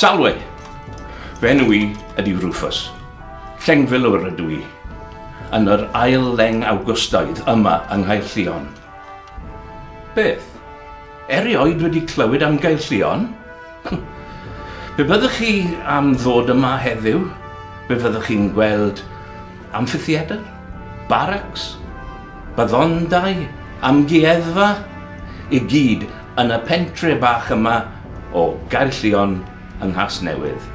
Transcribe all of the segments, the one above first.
Salwe! Fy enw i ydy Rufus. Llengfilwr ydw i. Yn yr ail leng Awgwstaidd yma yng Nghaerllion. Beth? Erioed wedi clywed am Gaerllion? Be byddwch chi am ddod yma heddiw? Be fyddwch chi'n gweld? Amffitheatr, baracs, baddondai, amgueddfa, i gyd yn y pentre bach yma o Gaerllion yng Nghasnewydd.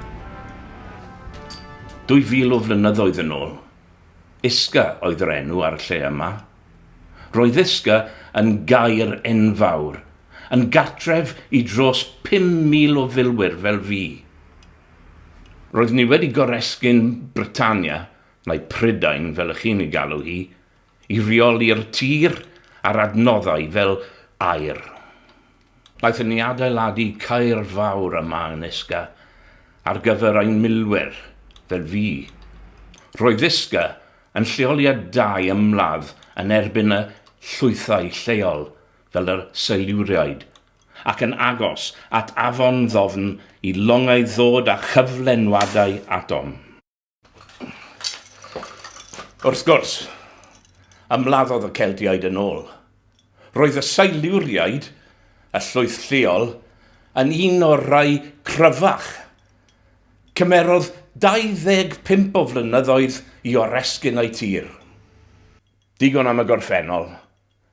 Dwy fil o flynyddoedd yn ôl, Isca oedd yr enw ar y lle yma. Roedd Isca yn gaer enfawr, yn gartref i dros 5,000 o filwyr fel fi. Roeddwn i wedi goresgyn Britannia, neu Prydain fel y chi'n ei galw hi, i reoli'r tir a'r adnoddau fel aer. Wnaethon ni adeiladu caer fawr yma yn Isca ar gyfer ein milwyr fel fi. Roedd Isca yn lleoliad da i ymladd yn erbyn y llwythau lleol fel y Seiluriaid ac yn agos at afon ddofn i longau ddod â chyflenwadau atom. Wrth gwrs, ymladdodd y Celtiaid yn ôl. Roedd y Siluriaid, y llwyth lleol, yn un o'r rhai cryfach. Cymerodd 25 o flynyddoedd i oresgyn eu tir. Digon am y gorffennol.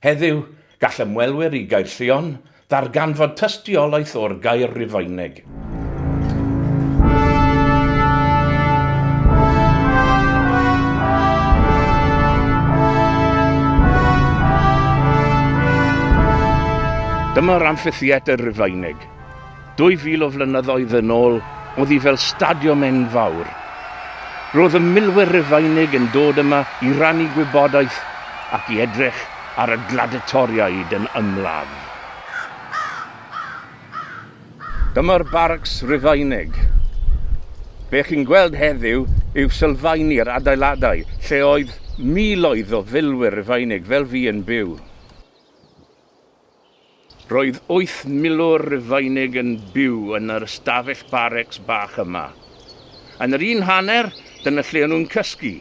Heddiw, gall ymwelwyr i Gaerllion ddarganfod tystiolaeth o'r gair Rufeinig. Dyma'r amffitheatr Rufeinig. Dwy fil o flynyddoedd yn ôl, oedd hi fel stadiwm enfawr. Roedd y milwyr Rufeinig yn dod yma i rannu gwybodaeth ac i edrych ar y gladitoriaid yn ymladd. Dyma'r Barracks Rufeinig. Be chi'n gweld heddiw yw sylfaen i'r adeiladau lle oedd miloedd o filwyr Rufeinig fel fi yn byw. Roedd wyth milwr Rufeinig yn byw yn yr ystafell barecs bach yma. Yn yr un hanner, dyna lle o'n nhw'n cysgu,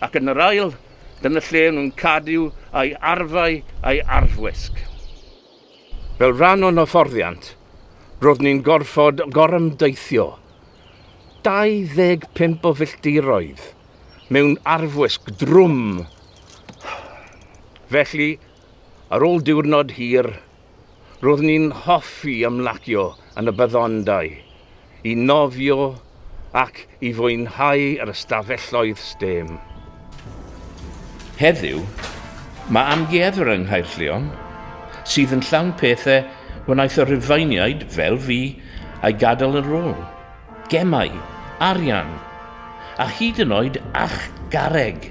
ac yn yr ail, dyna lle o'n nhw'n cadw eu arfau a'u arfwisg. Fel rhan o'n hyfforddiant, roeddwn i'n gorfod gorymdeithio 25 o filltiroedd mewn arfwisg drwm. Felly, Ar ôl diwrnod hir, roeddwn i'n hoffi ymlacio yn y byddondai, i nofio ac i fwynhau yr ystafelloedd stêm. Heddiw, mae amgueddfa yng Nghaerllion, sydd yn llawn pethau wnaeth y Rhufeiniaid, fel fi, ei gadael yn ôl, gemau, arian, a hyd yn oed archgarreg!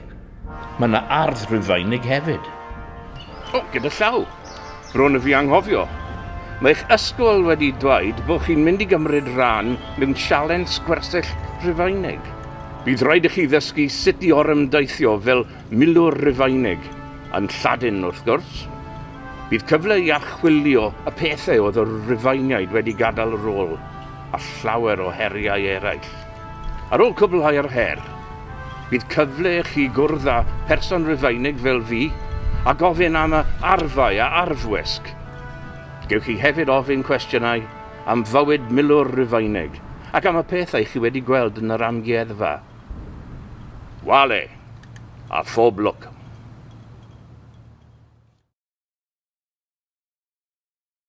Mae yna ardd Rufeinig hefyd. O, gyda llaw. Bron a fi anghofio. Mae eich ysgol wedi dweud bod chi'n mynd i gymryd rhan mewn sialens gwersyll Rufeinig. Bydd rhaid i chi ddysgu sut i orymdaithio fel milwr Rufeinig, yn Lladin wrth gwrs. Bydd cyfle i archwilio y pethau oedd y Rufeiniaid wedi gadael ar ôl, a llawer o heriau eraill. Ar ôl cwblhau yr her, bydd cyfle i chi gwrdd â pherson Rufeinig fel fi a gofyn am y arfau a arfwisg. Gewch chi hefyd ofyn cwestiynau am fywyd milwr Rufeinig ac am y pethau chi wedi gweld yn yr amgueddfa. Wale! A phob lwc!